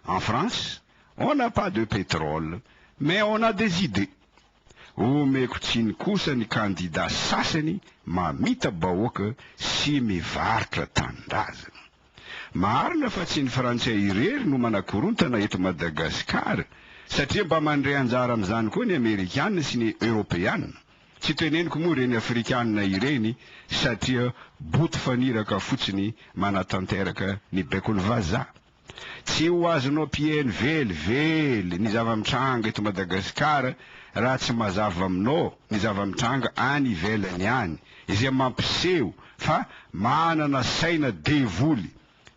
En France on n'a pas de pétrole mais on a des idées. Omeko tsiny kosa ny kandida sasany mamita bahoaka sy mivarotra tanindrazana. Marina fa tsy ny frantsay irery no manakorontana eto Madagascar satria mba mandray anjara amin'izany koa ny amerikana sy ny eoropeana. Tsy teneniko moa ireny afrikana ireny satria boto faniraka fotsiny manatanteraka ny baikon'ny vazaha. Tsy ho azonao mpieno velively ny zava-mitranga eto Madagasikara raha tsy mazava aminao ny zava-mitranga any ivelany any, izay mampiseho fa manana saina devoly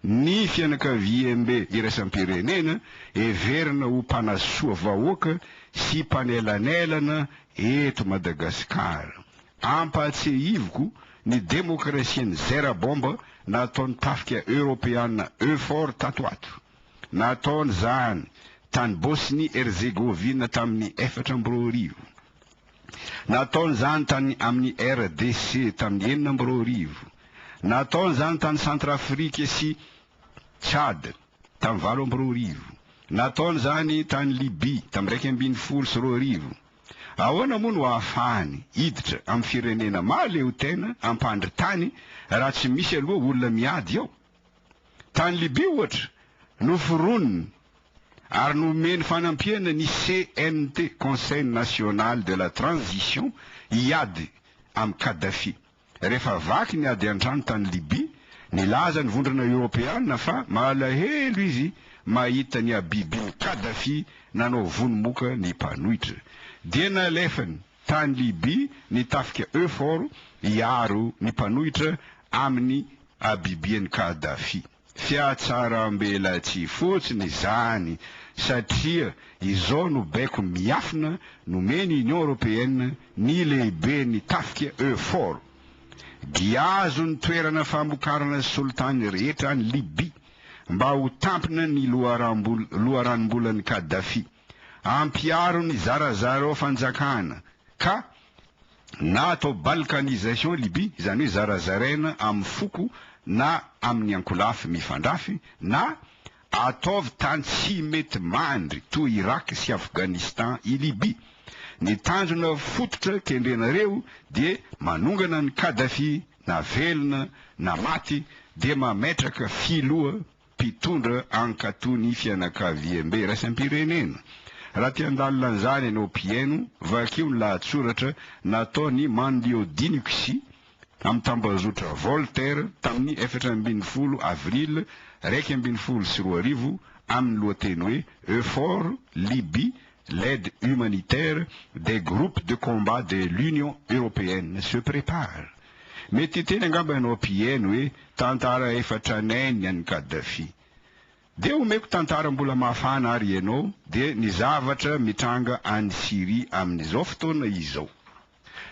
ny fianakaviambe iraisam-pirenena heverina ho mpanasoa vahoaka sy mpanelanelana eto Madagasikara. Ampahatsiahiviko ny demokrasian'i Zerabomba nataon'ny tafika Eoropeana Eufor tato ato. Nataony izany tany Bosnie Herzegovina tamin'ny efatra amby roa arivo. Nataony izany tany amin'ny RDC tamin'ny enina amby roa arivo. Nataony izany tany Centrafrique sy Tchad tamin'ny valo amby roa arivo. Nataony izany tany Libye tamin'ny iraika ambin'ny folo sy roa arivo. Ahoana moa no ahafahany hiditra amin'ny firenena mahaleotena hampandry tany raha tsy misy aloha olona miady ao? Tany Libia ohatra, noforoniny ary nomeny fanampiana ny CNT, Conseil National de la Transition, hiady amin'i Kadhafi. Rehefa vaky ny ady an-trano tany Libya, nilaza ny Vondrona Eoropeana fa malahelo izy mahita ny habibin'i Kadhafi nanao vono moka ny mpanohitra, dia nalefany tany Libya ny tafika Eufor hiaro ny mpanohitra amin'ny habibian'i Kadhafi. Fiatsaram-belatsihy fotsiny izany satria izao no baiko miafina nomen'i Union Européenne ny lehiben'ny tafika Eufor. Dia azo ny toerana famokarana solitany rehetra any Libye mba ho tampina ny loharanom-bolan'i Kadhafi. Ampiharo ny zarazara ao fanjakana ka na atao balkanisation Libye, izany hoe zarazaraina amin'ny foko na amin'ny ankolafy mifandrafy, na ataovy tany tsy mety mandry toa Irak sy Afghanistan i Libye. Ny tanjona fototra kendrenareo dia manongana an'i Kadhafi na velona na maty dia mametraka filoha mpitondra hankatò ny fianakaviambe iraisam-pirenena. Raha te handalina an'izany ianao mpihaino, vakio ny lahatsoratra nataon'i Manlio Dinixi amin'ny tambazotra Voltaire tamin'ny efatra ambin'ny folo avril iraika ambin'ny folo sy roa arivo amin'ny lohateny hoe Eufor Libye, l'aide humanitaire des groupes de combat de l'Union européenne se prépare. Mety hiteny angamba ianao mpihaino hoe tantara efa tranainy ny an'i Gaddafi. Dia omeko tantara mbola mafana ary ianao dia ny zavatra mitranga any Syrie amin'izao fotoana izao.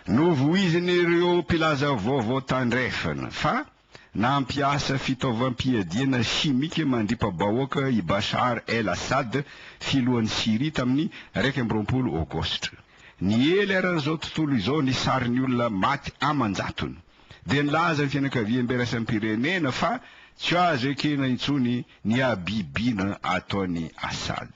Novoizin'ireo mpilaza vaovao tandrefana fa nampiasa fitaovam-piadiana simika mandripa-bahoaka i Bashar el-Assad, filohan'i Syrie tamin'ny iraika amby roapolo Aogositra. Niely ary an'izao tontolo izao ny sarin'ny olona maty aman-jatony. Dia nilaza ny fianakaviam-biraisam-pirenena fa tsy azo ekena intsony ny habibiana ataon'i Assad.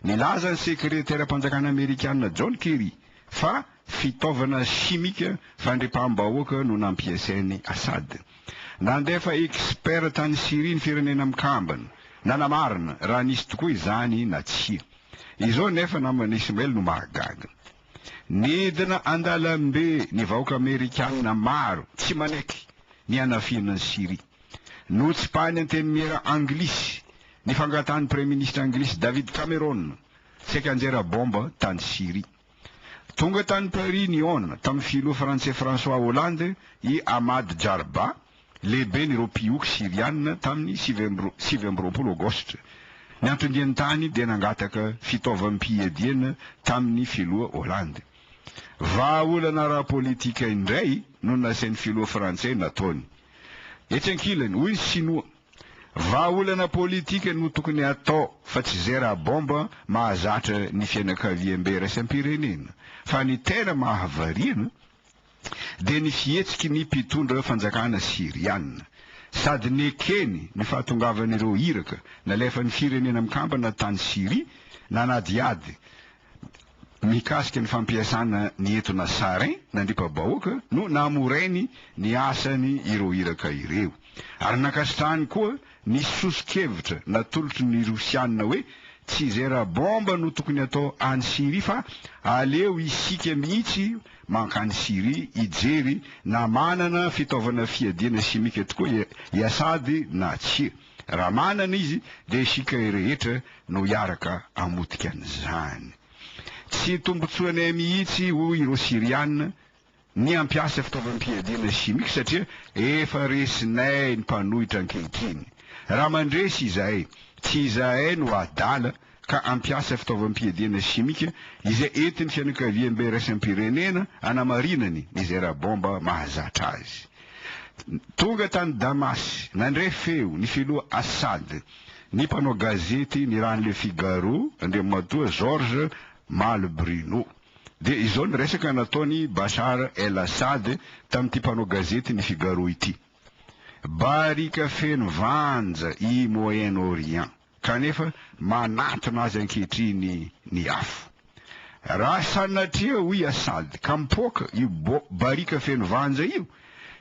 Nilaza ny Sekreteram-panjakana Amerikana John Kerry fa fitaovana simika fandripaham-bahoaka no nampiasain'i Assad. Nandefa expert tany Syria ny Firenena Mikambana, nanamarina raha nisy tokoa izany na tsia. Izao anefa naman'i Ismail no mahagaga. Nidina an-dalambe ny vahoaka Amerikana maro tsy manaiky ny hanafihana an'i Syria. Notsipahiny antenimiera anglisy ny fangatahan'ny Praiminisitra anglisy David Cameron saika hanjera baomba tany Syria. Tonga tany Paris nihaona tamin'ny filoha frantsay François Hollande i Ahmad Jarba, lehiben'ireo mpihoko Syriana tamin'ny sivy amby sivy amby roapolo Aogositra. Ny anton-diany tany dia nangataka fitaovam-piadiana tamin'ny filoha Hollande. Vahaolana ara-politika indray no nasain'ny filoha frantsay nataony. Etsy ankilany, hoy ny Sinoa, Vahaolana politika no tokony atao fa tsy zay raha bomba mahazatra ny fianakaviambe raisam-pirenena fa ny tena mahavariana dia ny fihetsiky ny mpitondra fanjakana Syriana. Sady nekeny ny fahatongavan'ireo iraka nalefan'ny firenena mikambana tany Syria nanadihady mikasika ny fampiasana ny etona Sarin nandripa-bahoaka no namorainy ny asany ireo iraka ireo, ary nankasitrahany koa ny soso-kevitra natolotry ny Rosiana hoe tsy izay rabomba no tokony atao any Syria fa aleo isika mihitsy mankany Syria hijery na manana fitaovana fiadiana simika tokoa i Assad na tsia. Raha manana izy dia isika rehetra no hiaraka hamotika an'izany. Tsy tombontsoanay mihitsy hoy ireo Syriana ny hampiasa fitaovam-piadiana chimique satria efa resinay ny mpanohitra ankehitriny. Raha mandresy izahay, tsy izahay no adala ka hampiasa fitaovam-piadiana simika izay entin'ny fianakaviambe iraisam-pirenena hanamarinany izay rabomba mahazatra azy. Tonga tany Damasy, nandray feo ny filoha Assad, ny mpanao gazety ny raha ny Le Figaro, Andriamatoa Georges Maly Bruno. Dia izao ny resaka nataon'i Bashar El Assad tamin'ity mpanao gazety ny Figaro ity, Barika feno vanja i Moyen-Orient. Kanefa manantona azy ankehitriny ny afo. Raha sanatria, hoy Assad, ka mipoaka io barika feno vanja io,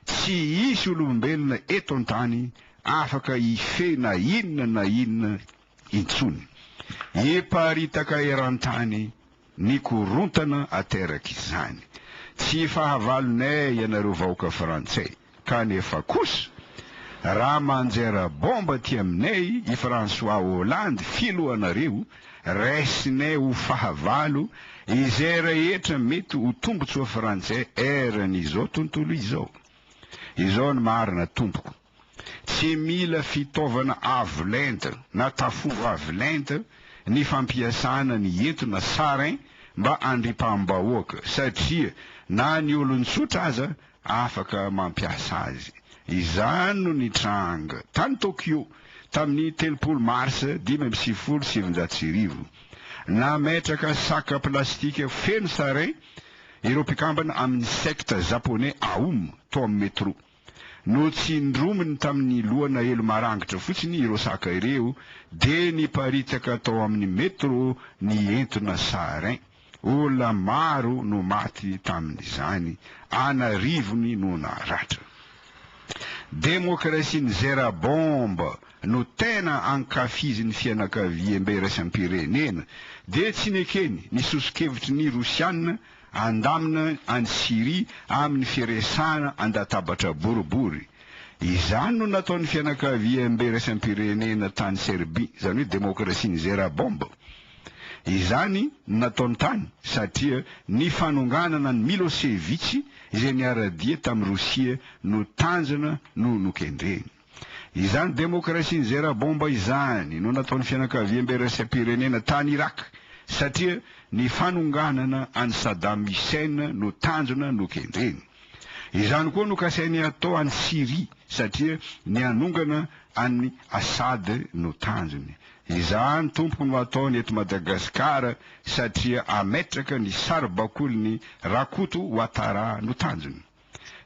tsy hisy olombelona eto an-tany afaka hifehy na inona na inona intsony. Hiparitaka eran-tany ny korontana ateraky izany. Tsy fahavalonay ianareo vahoaka frantsay ka nefa kosa raha manjera bomba aty aminay i François Hollande filohanareo raisinay ho fahavalo izay rehetra mety ho tombotsoa frantsay eran'izao tontolo izao. Izao ny marina tompoko. Tsy mila fitaovana avo lenta na tafondro avo lenta ny fampiasana ny eto na sarin mba andripaham-bahoaka satria na ny olon-tsotra aza afaka mampiasa azy. Izany no nitranga tany Tokyo tamin'ny telopolo marsa dimy amby sivifolo sy sivinjato sy arivo. Nametraka saka plastika feno sarin ireo mpikambana amin'ny sekta Japoney Aum tao amin'ny metroa. Notsindrominy tamin'ny lohana elo marangitra fotsiny ireo saka ireo dia niparitaka tao amin'ny metro ny entona sarin. Olona maro no maty tamin'izany, an'arivony no naratra. Demokrasia nizera bomba no tena ankafizin'ny fianakaviambe iraisam-pirenena dia tsy nekeny ny soso-kevitry ny Rosiana Andamina any Syria amin'ny firesahana an-databatra boribory. Izany no nataon'ny fianakaviambe iraisam-pirenena tany Serbia, izany hoe demokrasian'i Zerabomb. Izany no nataony tany satria ny fanonganana an'i Milosevic izay niara-dia tamin'i Rosia no tanjona no nokendreny. Izany demokrasian'i Zera Bomba izany no nataon'ny fianakaviambe iraisam-pirenena tany Irak satria ny fanonganana an'i Saddam Hussein no tanjona nokendreny. Izany koa no kasainy hatao any Syria satria ny hanongana an'i Assad no tanjony. Izany tompoko no hataony eto Madagasikara satria hametraka ny saribakoliny Rakoto Ouattara no tanjony.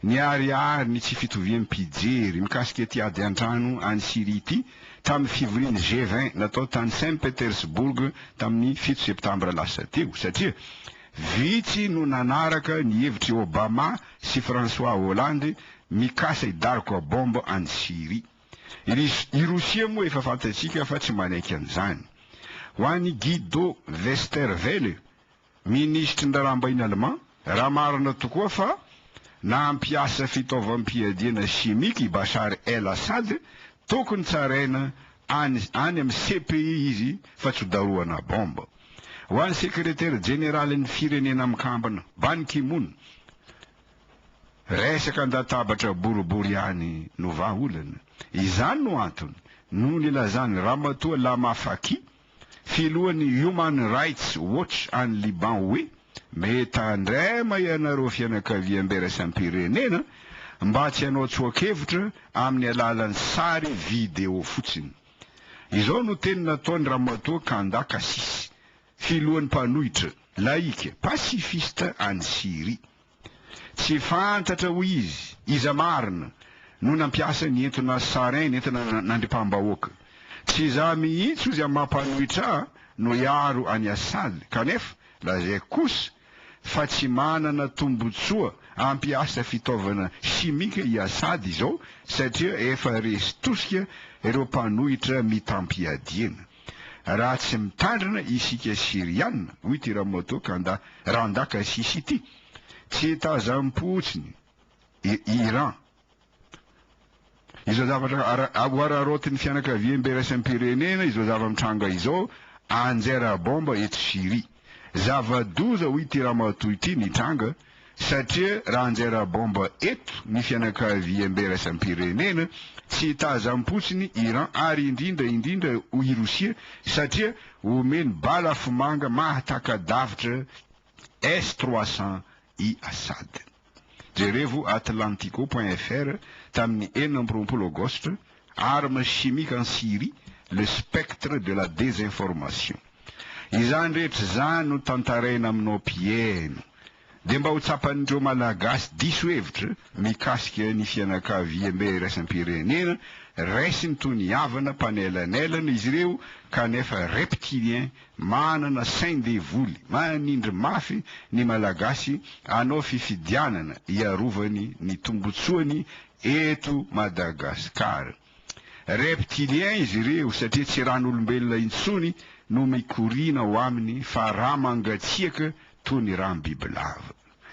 Niharihary ny tsy fitovian'ny mpijery mikasika ity ady an-trano any Syria ity tamin'ny fivorian'ny G-20 natao tany Saint Petersburg tamin'ny fito Septambra lasa teo, satria vitsy no nanaraka ny hevitr'i Obama sy François Hollande mikasa hidaroka baomba any Syria. I Rosia moa efa fantatsika fa tsy manaiky an'izany. Ho an'i Guido Westerwelle, Minisitry ny Raharaham-bahiny Alemà, Raha marina tokoa fa nampiasa fitaovam-piadiana simika i Bashar el-Assad, tokony tsaraina any any amin'ny CPI izy fa tsy ho darohana baomba. Ho an'ny Sekretera Jeneralin'ny Firenena Mikambana, Ban Ki-moon, resaka an-databatra boribory ihany no vahaolana. Izany no antony no nilazan'ny Ramatoa Lama Fakih filohan'ny Human Rights Watch any Liban hoe mitandrema ianareo fianakaviam biraisam-pirenena mba tsy hanao tsoa-kevitra amin'ny alalan'ny sary video fotsiny. Izao no teny nataon'i Ramatoa Kanda Kassis, filohan'ny mpanohitra laika pasifista any Syria. Tsy fantatra, hoy izy, iza marina no nampiasa ny entona sarin nentina nandripaham-bahoaka. Tsy izaho mihitsy, hozy amin'ny maha mpanohitra ahy, no hiaro an'i Assad, kanefa lazaiko kosa fa tsy manana tombontsoa hampiasa fitaovana simika i Assad izao satria efa resy tosika ireo mpanohitra mitam-piadiana. Raha tsy mitandrina isika Syriana, hoy ity Ramoto Kanda, Randaka Sisi ity, tsy hitazam-potsiny i Iran. Izao zavatra hohararaotin'ny fianakaviambe iraisam-pirenena izao zava-mitranga izao, anjera baomba eto Syria. Zava-doza ho ity ramatoa ity nitranga satria raha anjaira bomba eto ny fianakaviambe iraisam-pirenena, tsy hitazam-potsiny Iran ary indrindra indrindra i Rosia satria omeny bala afomanga mahataka-davitra S-300 i Assad. Jerevo Atlantico point fr tamin'ny enina amby roapolo Aogositra, Armes chimiques en Syrie, le spectre de la désinformation. Izany rehetra izany no tantaraina aminao mpihaino. Dia mba ho tsapan'ireo Malagasy diso hevitra mikasika ny fianakaviambe iraisam-pirenena, raisiny toy ny havana mpanelanelana izy ireo kanefa reptiliens Manana sain-devoly, manindry mafy ny Malagasy hanao fifidianana hiarovany ny tombotsoany eto Madagascar. Reptiliens izy ireo satria tsy ran'olombelona intsony no mikoriana ao aminy fa rà mangatsiaka toa ny ràm-bibilava.